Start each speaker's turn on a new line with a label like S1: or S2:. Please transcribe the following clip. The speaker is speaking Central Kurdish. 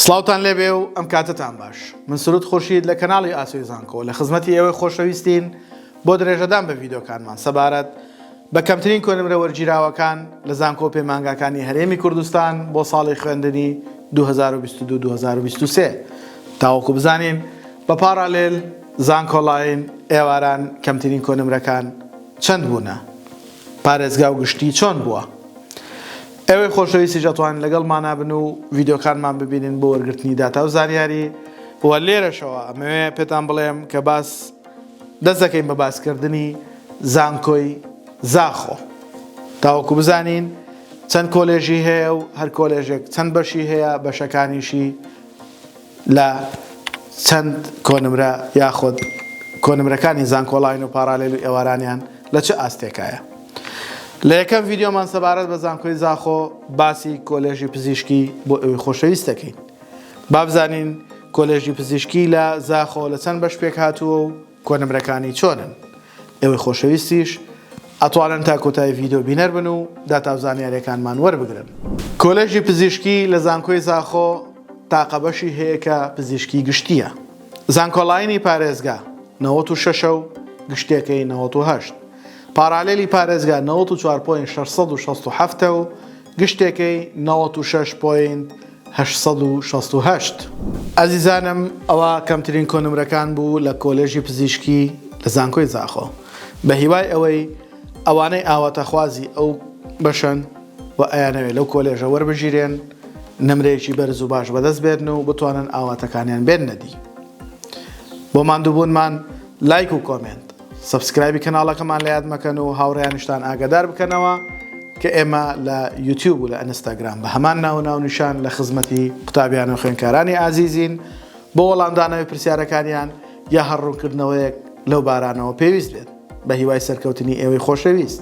S1: سڵاوتان لێبێ و ئەم کاتەتان باش من سرود خورشید لە کەناڵی ئاسۆی زانکۆ لە خزمەتی ئێوەی خۆشەویستین بۆ درێژەدان بە ڤیدۆکانمان سەبارەت بە کەمترین کۆنمرە وەرگیراوەکان لە زانکۆ پەیمانگاکانی هەرێمی کوردستان بۆ ساڵی خوێندنی 2022 2023 تاوەکو بزانین بە پاڕالێل زانکۆڵاین ئێواران کەمترین کۆنمرەکان چەند بوونە پارێزگا و گشتی چۆن بووە؟ ئێوەی خۆشەویستیش ئەتوانن لەگەڵمانا بن و ڤیدیۆکانمان ببینن بۆ وەرگرتنی داتا و زانیاری وە لێرەشەوە ئەمەوێ پێتان بڵێم کە باس دەست دەکەین بە باسکردنی زانکۆی زاخۆ تاوەکو بزانین چەند کۆلێژی هەیە و هەر کۆلێژێک چەند بەشی هەیە بەشەکانیشی لە چەند کۆنمرە یاخود کۆنمرەکانی زانکۆڵاین و پاراالێل و ئێوارانیان لە چ ئاستێکایە لە یەکەم ڤیدیۆمان سەبارەت بە زانکۆی زاخۆ باسی کۆلێژی پزیشکی بۆ ئەوی خۆشەویست دەکەین بابزانین کۆلێژی پزیشکی لە زاخۆ لە چەند بەش پێک هاتووە و کۆنمرەکانی چۆنن ئەوەی خۆشەویستیش ئەتوانن تا کۆتای ڤیددیو بینەر بن و داتاو زانیارەکانمان وەربگرن کۆلێژی پزیشکی لە زانکۆی زاخۆ تاقەبەشی هەیە کە پزیشکی گشتیە زانکۆڵینی پارێزگا 96 و گشتەکەی 98 پارالێلی پارێزگا نەوەد و چوار پۆینت شەش سەد و شەست و حەفت ە و گشتێکەی نەوەد و شەش پۆینت هەشت سەد و شەست و هەشت. ئەزیزانم ئەوە کەمترین کۆنمرەکان بوو لە کۆلێژی پزیشکی لە زانکۆی زاخۆ بە هیوای ئەوەی ئەوانەی ئاواتەخوازی ئەو بەشەن و ئەیانەوێ لەو کۆلێژە وەربگیرێن نمرەیەکی بەرز و باش بەدەست بێنن و بتوانن ئاواتەکانیان بێننە دی بۆ ماندووبوونمان لایک و کۆمێنت سەبسکرایبی کەناڵەکەمان لە یاد مەکەن و هاوڕێیانشتان ئاگادار بکەنەوە کە ئێمە لە یوتیوب و لە ئەنستاگرام بە هەمان ناو ناونیشان لە خزمەتی قوتابیان و خوێنکارانی ئازیزین بۆ وەڵامدانەوەی پرسیارەکانیان یا هەڕوونکردنەوەیەک لەو بارانەوە پێویست بێت بە هیوای سەرکەوتنی ئێوەی خۆشەویست.